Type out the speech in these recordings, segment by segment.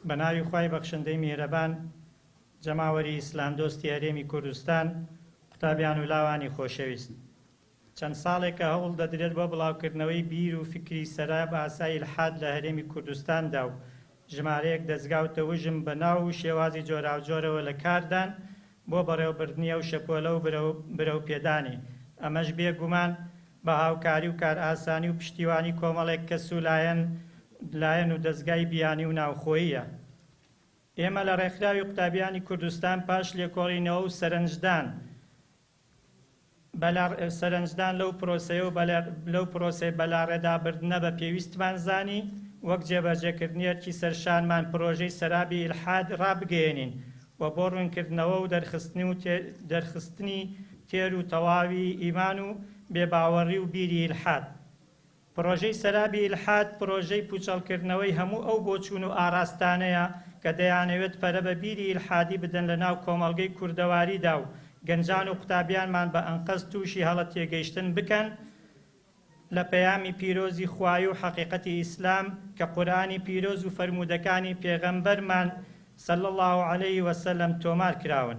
بە ناوی خوای بەخشندەی میهرەبان جەماوەری ئیسلام دۆستی هەرێمی کوردستان قوتابیان و لاوانی خۆشەویست چەند ساڵێکە هەوڵ دەدرێت بۆ بڵاوکردنەوەی بیر و فکری سەرا باسای الحاد لە هەرێمی کوردستاندا و ژمارەیەک دەزگا و تەوژم بە ناو و شێوازی جۆراوجۆرەوە لە کاردان بۆ بەڕێوەبردنی ئەو شەپۆلە و برەو پێدانی، ئەمەش بێ گومان بە هاوکاری و کارئاسانی و پشتیوانی کۆمەڵێک کەس و لایەن و دەزگای بیانی و ناوخۆییە. ئێمە لە ڕێکخراوی قوتابیانی کوردستان پاش لێکۆڵینەوە و سەرنجدان، بەلا سەرەنجدان لەو پرۆسەیە و بەلا لەو پرۆسەی بەلاڕێدابردنە بە پێویستمان زانی وەک جێبەجێکردنی ئەرکی سەرشانمان پرۆژەی سەرابی ئیلحاد ڕابگەیەنین و بۆ ڕوونکردنەوە و دەرخستنی و تێ دەرخستنی تێر و تەواوی ئیمان و بێباوەڕی و بیری ئیلحاد پڕۆژەی سەرابی ئیلحاد پڕۆژەی پووچەڵکردنەوەی هەموو ئەو بۆچوون و ئاراستانەیە کە دەیانەوێت پەرە بە بیری ئیلحادی بدەن لە ناو کۆمەڵگەی کوردەواریدا و گەنجان و قوتابیانمان بە ئەنقەست تووشی هەڵە تێگەیشتن بکەن لە پەیامی پیرۆزی خوایی و حەقیقەتی ئیسلام کە قورئانی پیرۆز و فەرموودەکانی پێغەمبەرمان صلی اللە علیه وسلم تۆمار کراون.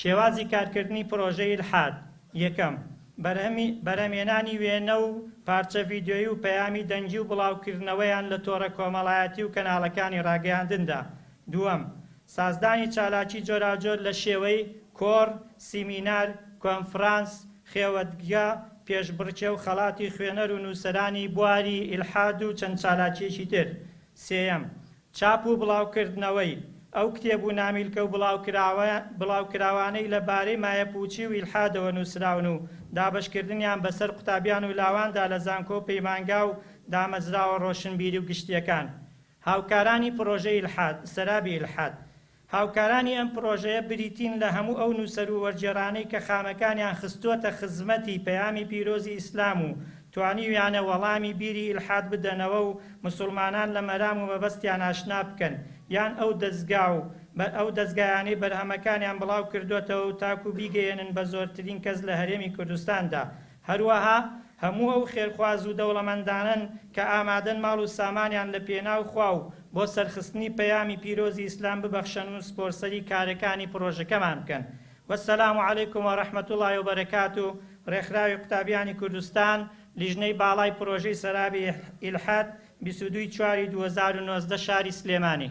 شێوازی کارکردنی پرۆژەی الحاد، یەکەم، بەرهەمی، بەرهەمهێنانی وێنە و پارچە ڤیدیۆیی و پەیامی دەنگی و بڵاوکردنەوەیان لە تۆڕە کۆمەڵایەتی و کەناڵەکانی ڕاگەیاندندا، دووەم، سازدانی چالاکی جۆراوجۆر لە شێوەی، کۆڕ، سیمینار، کۆنفرانس، خێوەتگە، پێشبڕکێ و خەڵاتی خوێنەر و نووسەرانی بواری الحاد و چەند چالاکییەکی تر، سێیەم، چاپ و بڵاوکردنەوەی ئەو کتێب و نامیلکە و بڵاوکراوانەی لە بارەی مایەپووچی و ئیلحادەوە نووسراون و دابەشکردنیان بەسەر قوتابیان و لاواندا لە زانکۆ و پەیمانگا و دامەزراوە ڕۆشنبیری و گشتییەکان هاوکارانی پڕۆژەی ئیلحاد، سەرابی ئیلحاد، هاوکارانی ئەم پڕۆژەیە بریتین لە هەموو ئەو نووسەر و وەرگێڕانەی کە خانەکانیان خستووەتە خزمەتی پەیامی پیرۆزی ئیسلام و توانیویانە وەڵامی بیری ئیلحاد بدەنەوە و موسوڵمانان لە مەرام و مەبەستیان ئاشنا بکەن یان ئەو دەزگا و ئەو دەزگایانەی بەرهەمەکانیان بڵاو کردووەتەوە و تاکوو بیگەیەنن بە زۆرترین کەس لە هەرێمی کوردستاندا هەروەها هەموو ئەو خێرخواز و دەوڵەمەندانەن کە ئامادەن ماڵ و سامانیان لە پێناو خوا و بۆ سەرخستنی پەیامی پیرۆزی ئیسلام ببەخشەن و سپۆرسەری کارەکانی پڕۆژەکەمان بکەن والسلام علیکم ورحمە اللە وبرکاته ڕێکخراوی قوتابیانی کوردستان لیژنەی باڵای پڕۆژەی سەرابی ئیلحاد بیست و دوو ی چوار ی دوو هەزار و نۆزدە شاری سلێمانی.